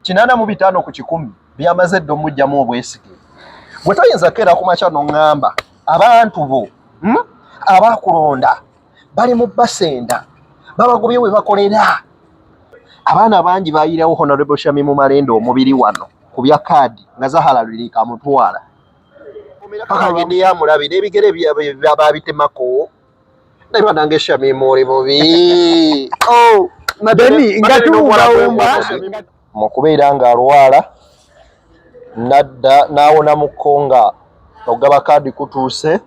kinaana mu bitaano ku kikumi byamaze edda omujjamu obwesige gwe toyinza keera ku makya noŋŋamba abantu bo hmm? abakulonda bali mu basenda babagobye we bakolera abaana bangi bayiirawo honorable shami mu malenda omubiri wano ku bya kaadi nga zahala lirika amutwala paka agende yamulabe n'ebigere babitemako naye banange shamimu oli bubi oh, mu kubeera nga alwala nadda n'awona mukko nga ogaba kaadi kutuuse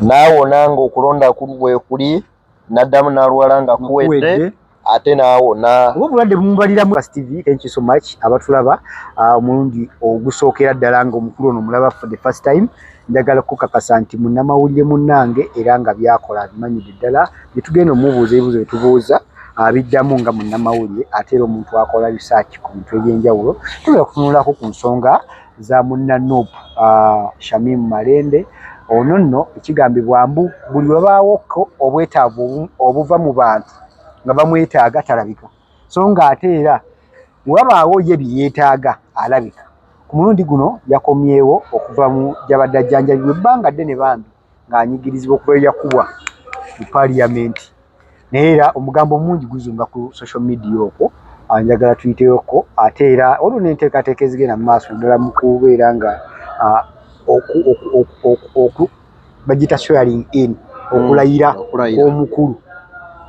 n'awona ng'okulonda bwekuli naddamu naluwala nga kuwedde ate naawona oba obulwadde bumubaliramu tv thank you so much abatulaba ah, omulundi ogusookera ddala nga omukulu ono mulaba for the first time njagala kukakasa nti munnamawulire munnange era nga byakola abimanyidde ddala byetugenda omubuuza ebibuuzo byetubuuza abiddamu nga munnamawulire ate era omuntu akola risaaki ku bintu ebyenjawulo tusobola kutunulako ku nsonga za munna Nup uh, Shamim Malende ono nno ekigambibwa mbu buli webaawokko obwetaavu obuva mu bantu nga bamwetaaga talabika so nga ate era wewabaawo ye byeyeetaaga alabika ku mulundi guno yakomyewo okuva mu gyabadde ajjanjabibwa ebbanga ddene bambi ng'anyigirizibwa okuva lwe yakubwa mu paliyamenti naye era omugambo mungi guzunga ku social media okwo anjagala tuyiteyokko ate era waliwo n'enteekateeka ezigenda mu maaso naddala mu kubeera nga bagiyita swearing in mm, okulayira omukulu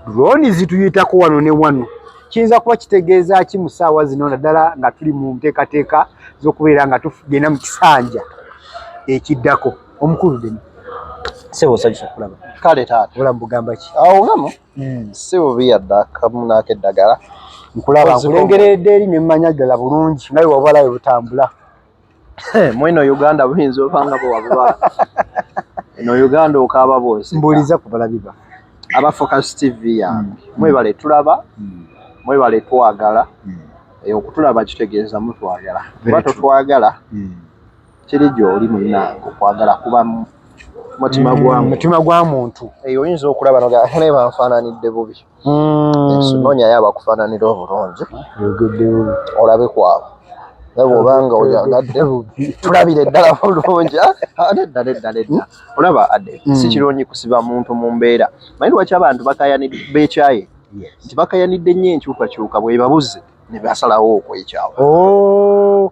droni zituyitako wano ne wano kiyinza kuba kitegeeza ki mu ssaawa zino naddala nga tuli mu nteekateeka z'okubeera nga tugenda mu kisanja ekiddako omukulu deni sebo osanyusa okulaba kale taata ola mbugamba ki awo ngamo hmm. si bubi yadde akamu naako eddagala nkulaba nkulengeredde eri nemmanya ddala bulungi naye wabala we butambula mweno uganda buyinza obanga bwewabubala eno uganda okaaba bwosi mbuuliza kubala biba aba focus tv yange hmm. mwebale tulaba hmm. mwebale twagala okutulaba kitegeeza mutwagala kuba totwagala kiri gy'oli munnange okwagala kuba mutima gwa mm, mutima gwa muntu eyo eh, oyinza okulaba noganaye banfaananidde bubi mm. noonyayo abakufaananira obulungi olabe kwabo naye bwoba nga oyagadde bubi tulabire ddala bulungi ah, ah, nedda nedda nedda olaba ade mm. si kirungi kusiba muntu mu mbeera maye lwaki abantu bakayani bekyaye nti bakayanidde nnyo enkyukakyuka bwebabuze ne basalawo okwekyawa oh.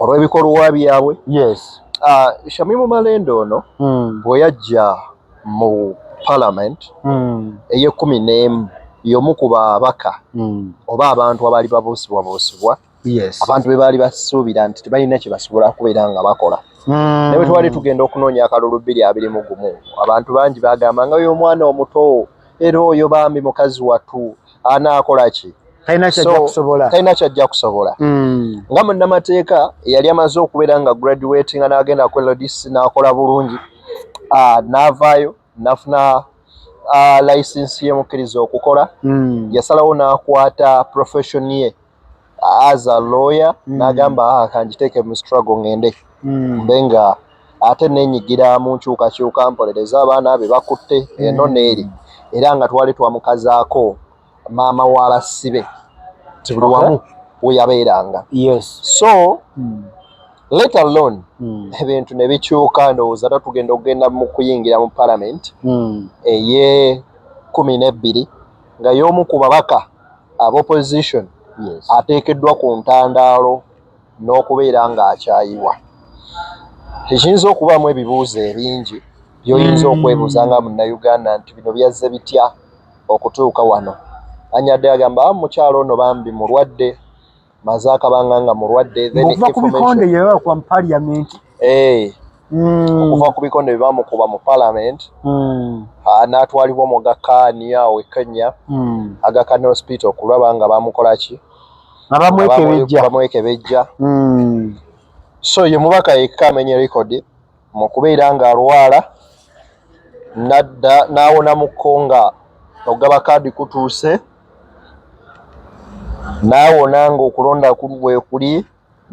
olw'ebikolwa byabwe yes uh, shamimu malende ono mm. bwe yajja mu parliament mm. eyekumi n'emu y'omu ku babaka mm. oba abantu abaali babuusibwabuusibwa yes. abantu be baali basuubira nti tebalina kye basobola kubeera nga bakola mm. naye twali tugenda okunoonya akalulu bbiri abiri mu gumu abantu bangi bagamba nga y'omwana omuto era oyo bambi mukazi watu anaakola ki talina kyajja kusobola hmm. nga munnamateeka eyali amaze okubeera nga graduati nga n'agenda ku lds n'akola bulungi ah, n'avaayo nafuna ah, licensi yemukkiriza okukola hmm. yasalawo n'akwata profession ye as a lawyer mm. nagamba ah, kanjiteeke mu struggle ngende mm. mbe nga ate nenyigira mu nkyukakyuka mpolereza abaana be bakutte mm. eno neeri era nga twali twamukazaako maama wa basibe tibuli wamu weyabeeranga yes. so mm. let alone mm. ebintu ne bikyuka ndowooza ta tugenda okugenda mu kuyingira mu parliament mm. eye kumi n'ebbiri nga y'omu ku babaka aba opposition ateekeddwa ku ntandaalo n'okubeera ng'akyayiwa ekiyinza okubaamu ebibuuzo ebingi by'oyinza okwebuuza nga munnayuganda nti bino byazze bitya okutuuka wano anyadde agamba mukyalo ono bambi mulwadde maze akabanga nga mulwadde okuva ku bikonde bye bakuba mu paliyamenti eh. hmm. okuva ku bikonde bye bamukuba mu palamenti hmm. ah, n'atwalibwa mu gakaani awo e kenya hmm. agakaani hospital kulaba nga bamukola ki abamwekebejja so ye mubaka yekka amenye rekodi mu kubeera ng'alwala n'adda n'awona mu kko nga okugaba kaadi kutuuse n'awona ng'okulonda bwe kuli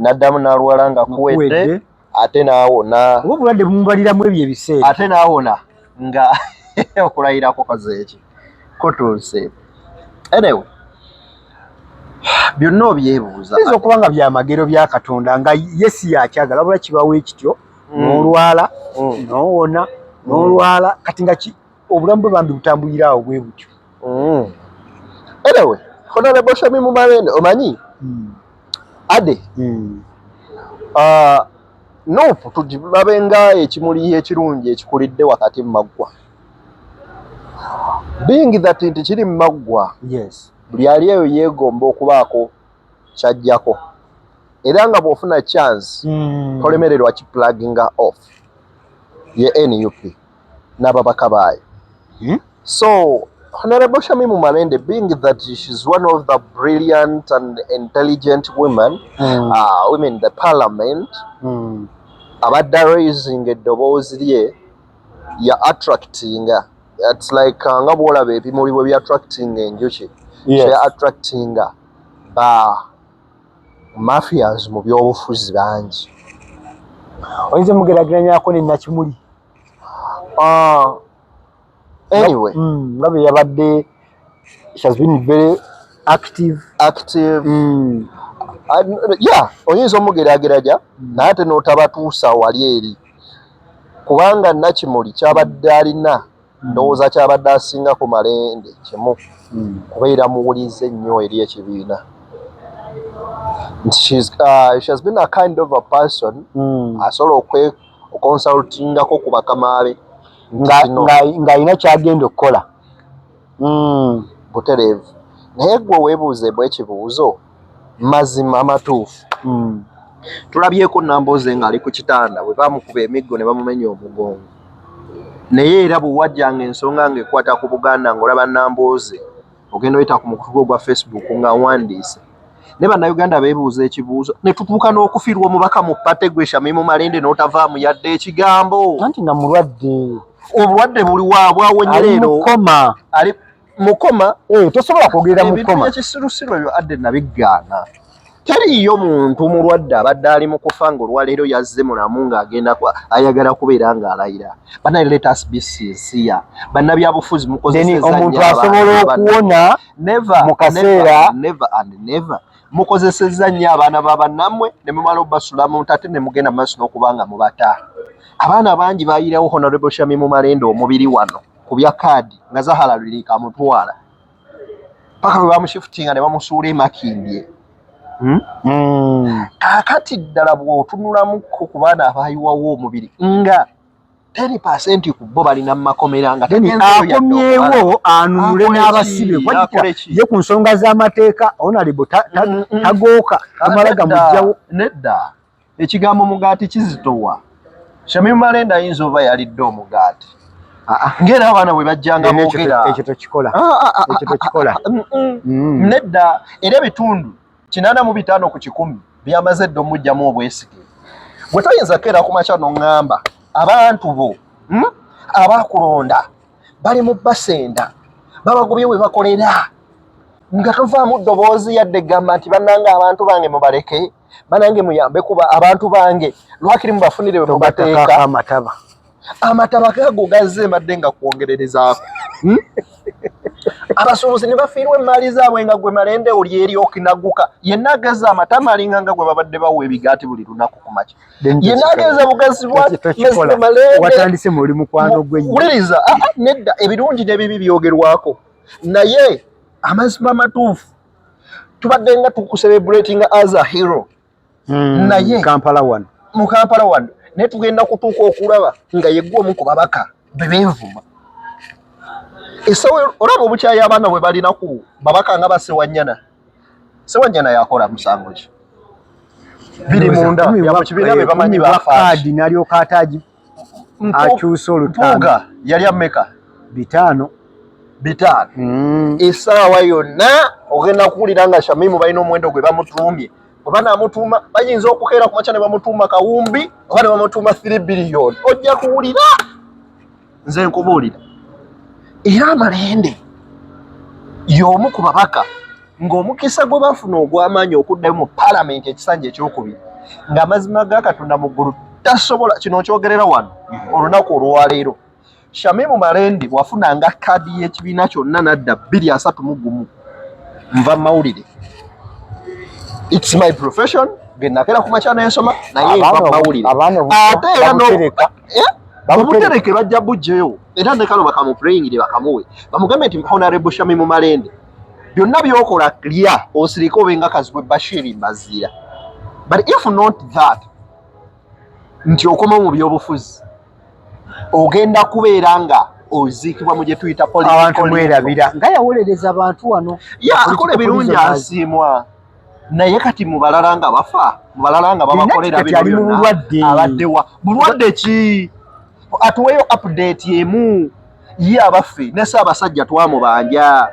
n'addamu n'alwala nga kuwedde ate n'awona oba obulwadde bumubaliramu ebyo ebiseera ate n'awona nga okulayira kukoze eki kutuuse enewe byonna obyebuuza yinza okuba nga byamagero bya katonda nga yesi yakyagala bula kibawo ekityo mm. nolwala mm. nowona mm. nolwala kati nga obulamu bwe bambi butambulira awo bwe butyo enewe honorable shami mumarene omanyi ade ah, Nup tugilabe nga ekimuli ekirungi ekikulidde wakati mu maggwa. Being that nti kiri mu maggwa, yes. buli ali eyo yeegomba okubaako kyajjako era nga bw'ofuna chance mm. tolemererwa ki plugging off ye NUP. n'ababaka baayo hmm? so Honorable Shamimu Malende, being that she's one of the brilliant and intelligent women, mm. uh, women in the parliament, mm. abadde raising eddoboozi lye ya attracting it's like uh, nga bwolaba ebimuli bwe bya attracting enjuki yeah. so ya attracting ba mafias mu byobufuzi bangi oyinza mugerageranyako ne nakimuli ah, anyway mm, nga bwe yabadde she has been very active active mm. Ah, ya oyinza omugerageranya mm. naye ate notabatuusa wali eri kubanga nakimuli kyabadde alina ndowooza kyabadde asinga ku malende kimu hmm. kubeera muwulize nnyo eri ekibiina nti uh, she has been a kind of a person hmm. asobola okwe okonsultingako ku bakamaabe ng'alina kyagenda okukola hmm. butereevu naye gwe weebuuze bwekibuuzo mazima amatuufu mm. tulabyeko namboze nga ali ku kitanda bwe bamukuba emiggo ne bamumenya omugongo naye era bwe wajjanga ensonga ng'ekwata ku buganda ng'olaba namboze ogenda oyita ku mukutu gwo gwa facebook ng'awandiise ne bannayuganda beebuuza ekibuuzo ne tutuuka n'okufirwa omubaka mu pate gwe shamimu malende n'otavaamu yadde ekigambo anti nga mulwadde obulwadde buli waabwawonyereerokoma mukoma eh, tosobola kwogerera mukoma ekisirusiru ebyo adde nabigaana teriiyo muntu mulwadde abadde ali mu kufa ng'olwaleero yazze mulamu ng'agenda ayagala kubeera ng'alayira banaye letus bcca bannabyabufuzi mukozeseomuntu asobola okuwona mu kaseera never and never mukozesezza nnyo abaana ba bannammwe ne mumala obasula muntu ate ne mugenda mu maaso n'okuba nga mubata abaana bangi baayirawo honorable shami mu malenda omubiri wano ku bya kaadi nga Zahara Lwirika amutwala paka lwe bamushifutinga ne bamusuula emakindye hmm? hmm. kakati ddala bw'otunulamuko ku baana abaayiwawo omubiri nga teni pasenti ku bo balina mu makomera nga akomyewo anunule n'abasibe ye ku nsonga z'amateeka onalibu hmm, tagooka amala gamugjawo nedda Ekigambo mugaati kizitowa. Shamim Malende ayinza oba yalidde omugaati. Ah, ah, ng'era abaana bwe bajjanga boogera. Ekyo tokikola. Ah, Ekyo tokikola. Mm, mm. Mm. Nedda era ebitundu kinaana mu bitaano ku kikumi byamaze dda omujjamu obwesige. Gwe toyinza keera ku makya n'oŋŋamba abantu bo hmm, abakulonda bali mu basenda babagobye we bakolera nga tovaamu ddoboozi yadde gamba nti bannanga abantu bange mubaleke. banange muyambe kuba abantu bange lwakiri mubafunire wemubateeka amataba amataba gago gazze mbadde nga kwongererezaako hmm? abasuubuzi ne bafiirwa emmaali zaabwe nga gwe malende oli eri okinaguka yenna ageza amatama alinga nga gwe babadde bawa ebigaati buli lunaku ku makya yenna ageza bugazi bwamalendewuliriza ah, ah, nedda ebirungi n'ebibi byogerwako naye amazima matuufu tubadde nga tukuserebratinga as a hero hmm, naye kampala wano mu kampala wano naye tugenda kutuuka okulaba nga yegwa omu ku babaka bebenvuma esawe olaba obukyayi abaana bwe balina ku babaka nga basewanyana sewanyana yakola musango ki biri munda yamukibiina bebamanyi bakaadi nalyoka atagi akyusa olutanga yali ameka bitaano bitaano mm. esaawa yonna ogenda kuwulira nga shamimu balina omuwendo gwe bamutuumye oba namutuuma bayinza okukeera kumakya ne bamutuuma kawumbi oba ne bamutuuma three biliyoni ojja kuwulira nze nkubuulira era amalende y'omu ku babaka ng'omukisa gwe baafuna ogw'amaanyi okuddayo mu paalamenti ekisanja ekyokubiri ng'amazima ga katonda mu ggulu tasobola kino okyogerera wano mm-hmm. olunaku olwaleero shamimu malendi wafunanga kaadi y'ekibiina kyonna nadda bbiri asatu mu gumu nva mu mawulire its my profession genakera ku makya nensoma naye nva mu mawulire ate era eh? bamutereke bajja bujjeyo era nekano bakamupreyingire bakamuwe bamugambe nti honorable shamimu malende byonna byokola lya osirike obenga kazibwe bashiri mbazira but if not that nti okomawo mu byobufuzi ogenda kubeera nga oziikibwa mu gyetuyita abantu mwerabira nga yawolereza abantu wano akola ebirungi asiimwa naye kati mubalala nga bafa mubalala nga babakolera binobyonna abaddewa bulwadde ki atuweyo update emu ye abaffe ne Ssaabasajja twamubanja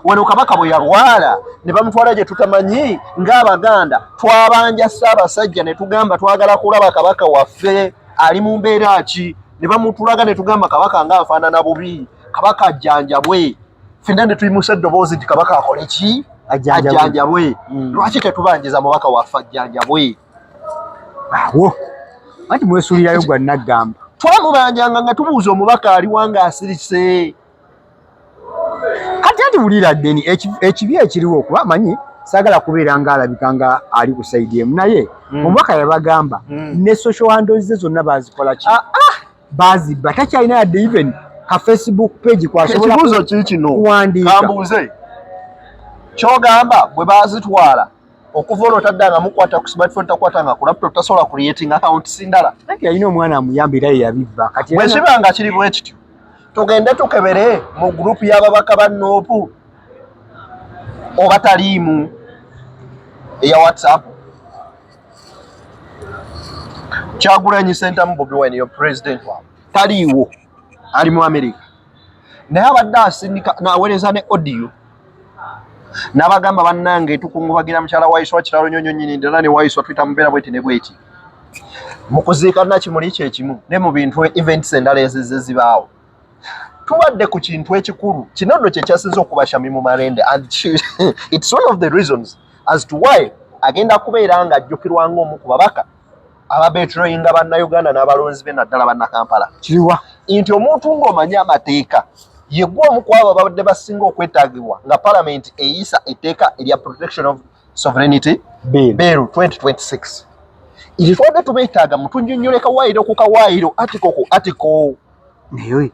wano kabaka bwe yalwala ne bamutwala gye tutamanyi ng'Abaganda twabanja Ssaabasajja ne tugamba twagala kulaba kabaka waffe ali mu mbeera ki ne bamutulaga ne tugamba kabaka ng'afaanana bubi kabaka ajjanjabwe fenna ne tuyimusa eddoboozi nti kabaka akole ki ajjanjabwe mm. lwaki tetubanjiza mubaka waffe ajjanjabwe awo anti mwesulirayo gwa naggamba twamubanjanga nga tubuuza omubaka aliwa nga asirise kati anti wulira deni ekibi ekiriwo kuba manyi sagala kubeera nga alabika nga ali ku saidi emu naye mm. omubaka yabagamba mm. ne social handles ze zonna bazikola ki ah, ah. bazibba takyalina yadde even ka facebook page kwasobolaekibuuzo kikino kuwandiika kyogamba bwe bazitwala okuva olwo taddanga mukwata ku smartphone takwatanga ku laptop tasobola creating account sindala anti yalina omwana amuyamba era yeyabibba kati bwe kiba nga kiri bwe kityo tugende tukebere mu group y'ababaka ba noopu oba taliimu eya whatsapp kyagulanyi sentamu bobi wine yo president wa taliiwo ali mu amerika naye abadde asindika nawereza ne audio nabagamba bannange tukungubagira mukyala waiswa kiralo nyonyo nyini ddala ne waiswa twita mubeera bweti ne bweti mu kuziika nakimuli kyekimu ne mu bintu events endala ezizze zibaawo tubadde ku kintu ekikulu kino nno kyekyasinza okubashami mu marende and its one of the reasons as to why agenda kubeera nga ajjukirwanga omu ku babaka ababetroyinga bannayuganda n'abalonzi be naddala bannakampala kiriwa nti omuntu ng'omanyi amateeka yegwe omu ku abo ababadde basinga okwetaagibwa nga palamenti eyisa etteeka erya protection of sovereignty bill 2026 ekyo tubadde tubeetaaga mutunyonyoleka waayiro ku kawaayiro atiko ku atiko naye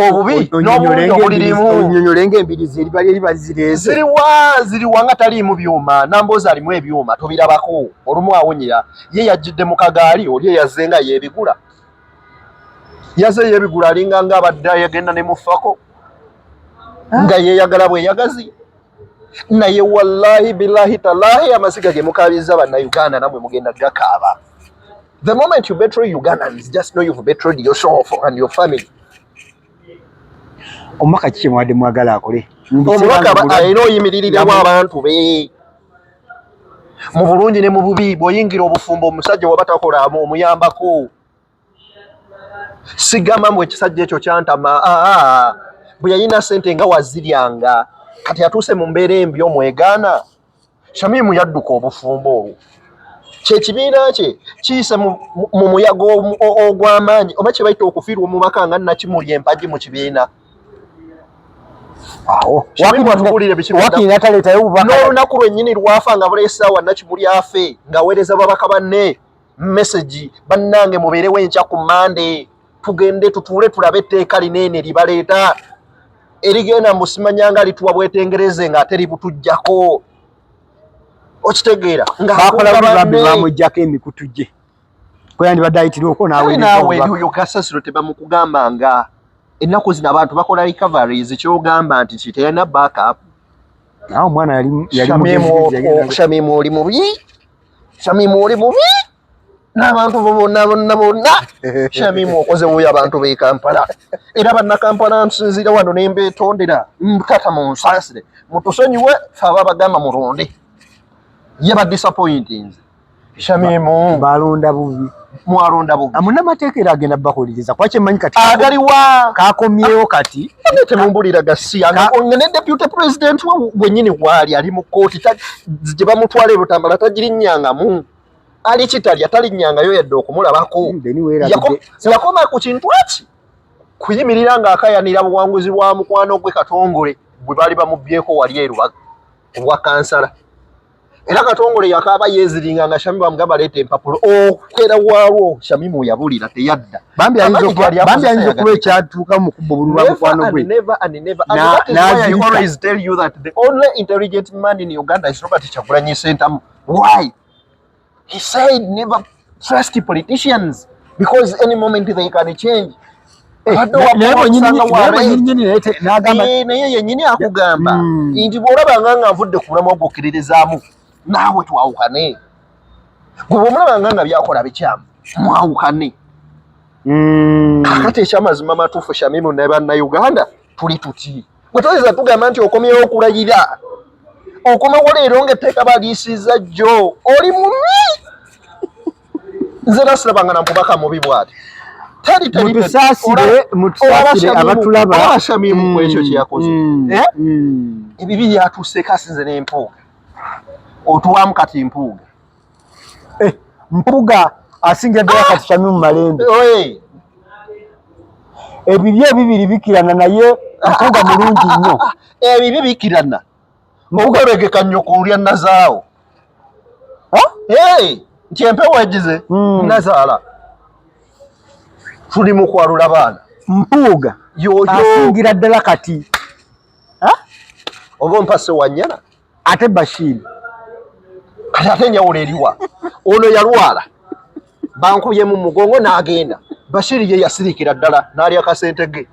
obubi n'obulungi obulirimu onyonyolenga embirizi eriba lyeri bazireze ziriwa ziriwa nga taliimu byuma namboozi alimu ebyuma tobirabako olumu awonyera ye yajjidde mu kagaali oli eyaze nga yeebigula yaze yeebigula alinga nga abadde yagenda ne mufako ah. nga yeeyagala bweyagazi naye wallahi bilahi talahi amaziga ge mukaabizza bannayuganda namwe mugenda gakaaba The moment you betray Ugandans, just know you've betrayed yourself and your family. Omaka kiki mwade mwagala akole? Omaka ba ayino yimiriri ne wa abantu be. Mu bulungi ne mu bubi boyingira obufumbo omusajja waba takola mu omuyamba ko. Sigama mwe kisajja ekyo kyantama. Ah, ah, ah. Buyayina sente nga waziryanga. Kati atuse mu mbere mbyo mwegana. Shamimu yadduka obufumbo obwo kyekibiina kye kiyise mu muyaga ogw'amaanyi oba kye bayita okufiirwa omubaka nga nakimuli empagi mu kibiina n'olunaku lwennyini lwafa nga buleesaawa nakimuli afe ng'aweereza babaka banne message bannange mubeerewo enkya ku mande tugende tutuule tulabe etteeka lineene libaleeta erigenda musimanyanga lituwa bwetengereze nga ate libutujjako okitegeera ngabamugjako emikutu gye kweyandibadde ayitirioko nawenaweyo kasasiro tebamukugamba nga ennaku zino abantu bakola recoveries kyogamba nti kiteyana backup nawe omwana yali yali mugezi yali okushamye mu oli mubi Shamimu oli mubi n'abantu bo bonna bonna bonna Shamimu okoze wuyo abantu b'e Kampala era bannakampala nsinziira wano ne mbeetondera mutata mu nsaasire mutusonyiwe fe aba bagamba mulonde ye badisappointinze Shamimu balonda bubi mwalonda bubi amunamateeka era agenda bakuliriza kuba kyemanyi kati agaliwa kakomyewo kati temumbulira gasiya ne deputy president wenyini waali ali mu kkooti gye bamutwala ebutambala tagirinyangamu ali kitalya talinyangayo yadde okumulabako hmm, yakoma ku kintu eki kuyimirira ng'akayanira buwanguzi bwa mukwano gwe katongole bwe baali bamubyeko wali erubaga obwa kansala era katongole yakaaba yeeziringa nga shamimu amugamba leeta empapula okwera waalwo shamimu yabulira teyadda bambi ayinza okuba ekyatuuka mu kubba obululu bwa mukwano gwe nazirizaaintelligent man in uganda is robert kyagulanyi sentamu why He said never trust politicians because any moment they can change. Eh, eh, naye yenyini akugamba hmm. nti bwolabanga nga nvudde ku mulamwa gwokiririzaamu naawe twawukane gwe bwomulabanga nga byakola bikyamu mwawukane hmm. kakati ekyamazima matuufu shamimu ne bannauganda tuli tuti gwe toyinza tugamba nti okomyewo okulayira okomawo leero nga etteeka baliisiza jjo oli mubi nze nasilabanga na mubaka mubi bwati mutusasire mutusasire abatulaba abashamimu mm, ekyo kyeyakoze mm, eh? mm. ebibi byatuuseko asinze n'empuuga otuwamu kati mpuuga Eh, mpuga asingira ddala kati Shamim Malende. Ebibye ebibiri bikirana naye mpuga mulungi nnyo. Ebibye eh, bikirana. Mpuga regeka nnyo kulya nazaawo. Eh, nti empewo egize hmm. nazaala. Tuli mu kwalula baana. Mpuga asingira ddala kati. Oba mpase wanyana. ate Bashir kati ate enjawulo eriwa ono yalwala bankubye mu mugongo n'agenda Bashir ye yasirikira ddala n'alya kasente ge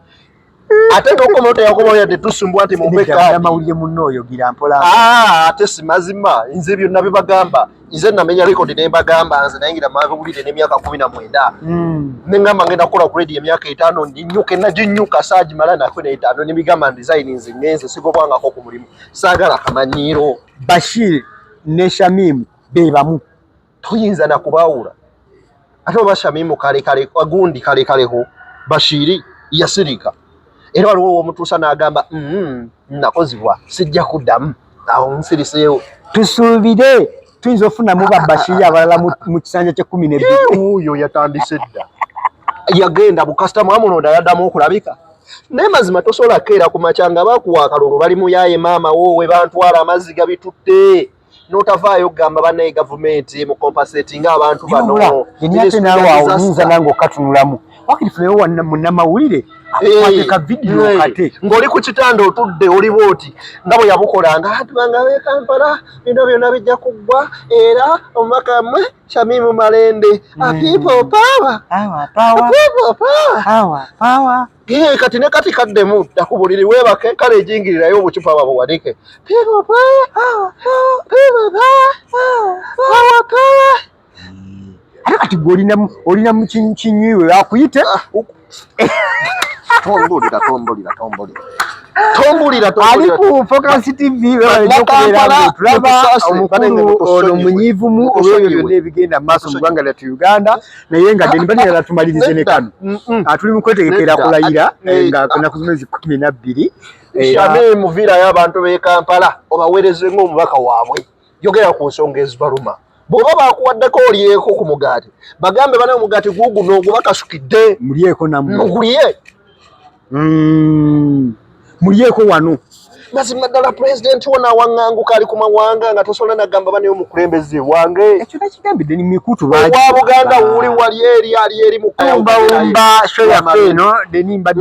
ate nokomawo teyakomawo yadde tusumbwa nti mumbeamawulire munno oyogira mpola ah, ate si mazima nze byonna bibagamba nze namenya record ne mbagamba nze nayingira mabulire n'emyaka kumi na mwenda hmm. ne ngamba ngenda kukola ku radio emyaka etaano nginyuke naginyuka saagimala nakwe na etaano ne bigamba design nze ngenze sigobwangako ku mulimu saagala kamanyiiro bashir ne shamimu be bamu toyinza nakubaawula ate oba shamimu kale kale agundi kale kale ho bashiri yasirika era waliwo owomutuusa n'agamba mm, nakozibwa sijja kuddamu awo nsiriseewo tusuubire tuyinza ofunamu babashiri abalala mu kisanja kyekumi nebiuyo yatandise dda yagenda bukasitamu amunoda yaddamu okulabika naye mazima tosobola kukeera ku makya nga bakuwa akalulu bali muyaye maama woowe bantwala amazzi gabitutte notavaayo kugamba banaye gavumenti mu compensate nga abantu bano ate naawe awo nyinza nange okatunulamu wakiri funewo wanna munamawulire akwateka vidiyo kate ng'oli ku kitanda otudde oliwo oti nga bwe yabukola nga abantu bange abekampala bino byona bijja kuggwa era omubaka mmwe shamimu malende apiipo paawa apiipo paawa Iye kati ne kati kaddemu dda ku buliri weebake kale ejingirirayo obucupa babuwanike ate kati gwe olina mu kinywiwe akuyite ah. tombulira tombulira tombulira tombulira ali ku Focus TV omukulu ono munyiivumu olw'ebyo byonna ebigenda mu maaso mu ggwanga lyattu Uganda naye nga deni bani yala tumalirize ne kano atuli mukwetegekera kulayira eh, nga kuna kuzimezi kumi na bbiri eh, shame muvira ya bantu be Kampala obawereze ngo mubaka wabwe yogera ku nsonga ezibaluma bwoba bakuwaddeko olyeko ku mugaati bagambe bana omugaati guguno ogubakasukidde mulyeko namwe mugulye Mm. Mulyeko wano. Mazima ddala president wona awaŋŋanguka ali ku mawanga nga tosobola nagamba banaye omukulembeze wange. Ekyo nakigambidde ni mikutu lwaki. Owa Buganda wuli wali eri ali eri mu. Ombawumba show yaffe eno deni mbadde.